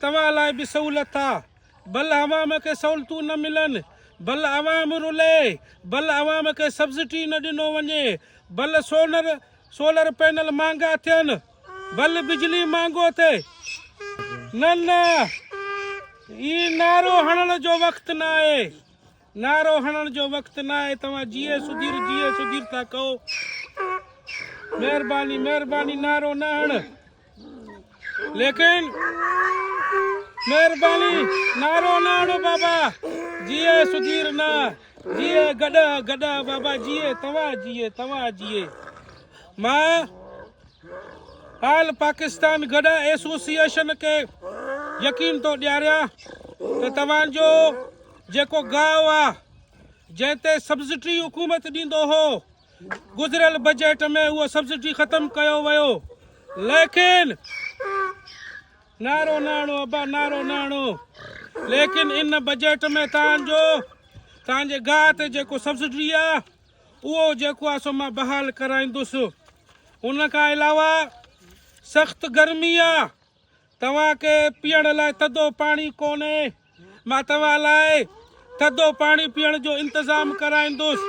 توهان لاء به سهولت آ. بل عوام کي سهولتون نه ملن، بل عوام رلي، بل عوام کي سبسڊي نه ڏنو وڃي، بل سولر سولر پينل مهانگا ٿين، بل بجلي مهانگو ٿئي. نه نه، اي نعرو هڻڻ جو وقت ناهي. نعرو هڻڻ جو وقت ناهي توهان جيئي سڌير جيئي سڌير ٿا ڪئو مهرباني مهرباني نعرو نه هڻ ليڪن مهرباني نعرو نه هڻو بابا جيئي سڌير نه جيئي گڏا گڏا بابا جيئي توهان جيئي توهان جيئي مان آل پاڪستان گڏا ایسوسيئيشن کي يقين ٿو ڏياريان ته توهان جو جيڪو گاهه آ جنهن تي سبسڊي حڪومت ڏيندو هو گذريل بجيٽ ۾ اهو سبسڊي ختم ڪيو ويو ليڪن نارو ناڻو ابا نارو ناڻو ليڪن ان بجيٽ ۾ تان جو تان جي گاهه تي جيڪو سبسڊي آ اهو جيڪو آ سو مان بحال ڪرائيندس ان کان علاوه سخت گرمي آ توهان کي پيئڻ لاء ٿڌو پاڻي ڪونهي. مان توهان لاء ٿڌو پاڻي پيئڻ جو انتظام ڪرائيندس.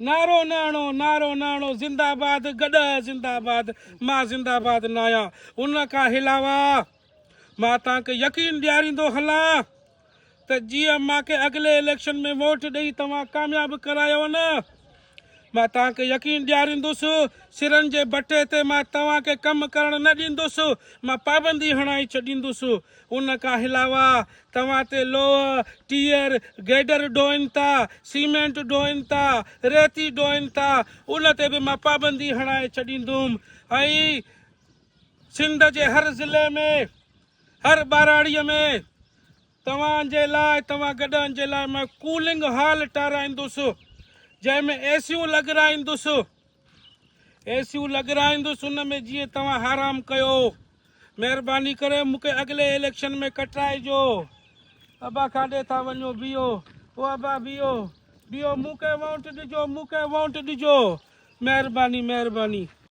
نعرو نه هڻو، نعرو نه هڻو، زنده باد گڏهه زنده باد، مان زنده باد ناهيان، ان کان علاوه مان توهان کي يقين ڏياريندو هلان ته جي امان کي اڳلي اليڪشن ۾ ووٽ ڏئي توهان ڪامياب ڪرايو نه مان توهان کي يقين ڏياريندس سرن جي بٺي تي مان توهان کي ڪم ڪرڻ نه ڏيندس مان پابندي هڻائي ڇڏيندس ان کان علاوه توهان تي لوهه ٽيئر گيڊر ڊوهين ٿا سيمينٽ ڊوهين ٿا ريتي ڊوهين ٿا ان تي به مان پابندي هڻائي ڇڏيندم ۽ سنڌ جي هر ضلعي ۾ هر ٻهراڙيء ۾ توهان جي لاء توهان گڏهن جي لاء مان ڪولنگ هال ٺهرائيندس، جنهن ۾ اي سيون لڳرائيندس. اي سيون لڳرائيندس ان ۾ جيئن توهان حرام ڪيو. مهرباني ڪري مون کي اڳلي اليڪشن ۾ ڪٽرائجو. ابا ڪاڏي ٿا وڃو بيهو او ابا بيهو بيهو مون کي وونٽ ڏجو مون کي وونٽ ڏجو مهرباني مهرباني.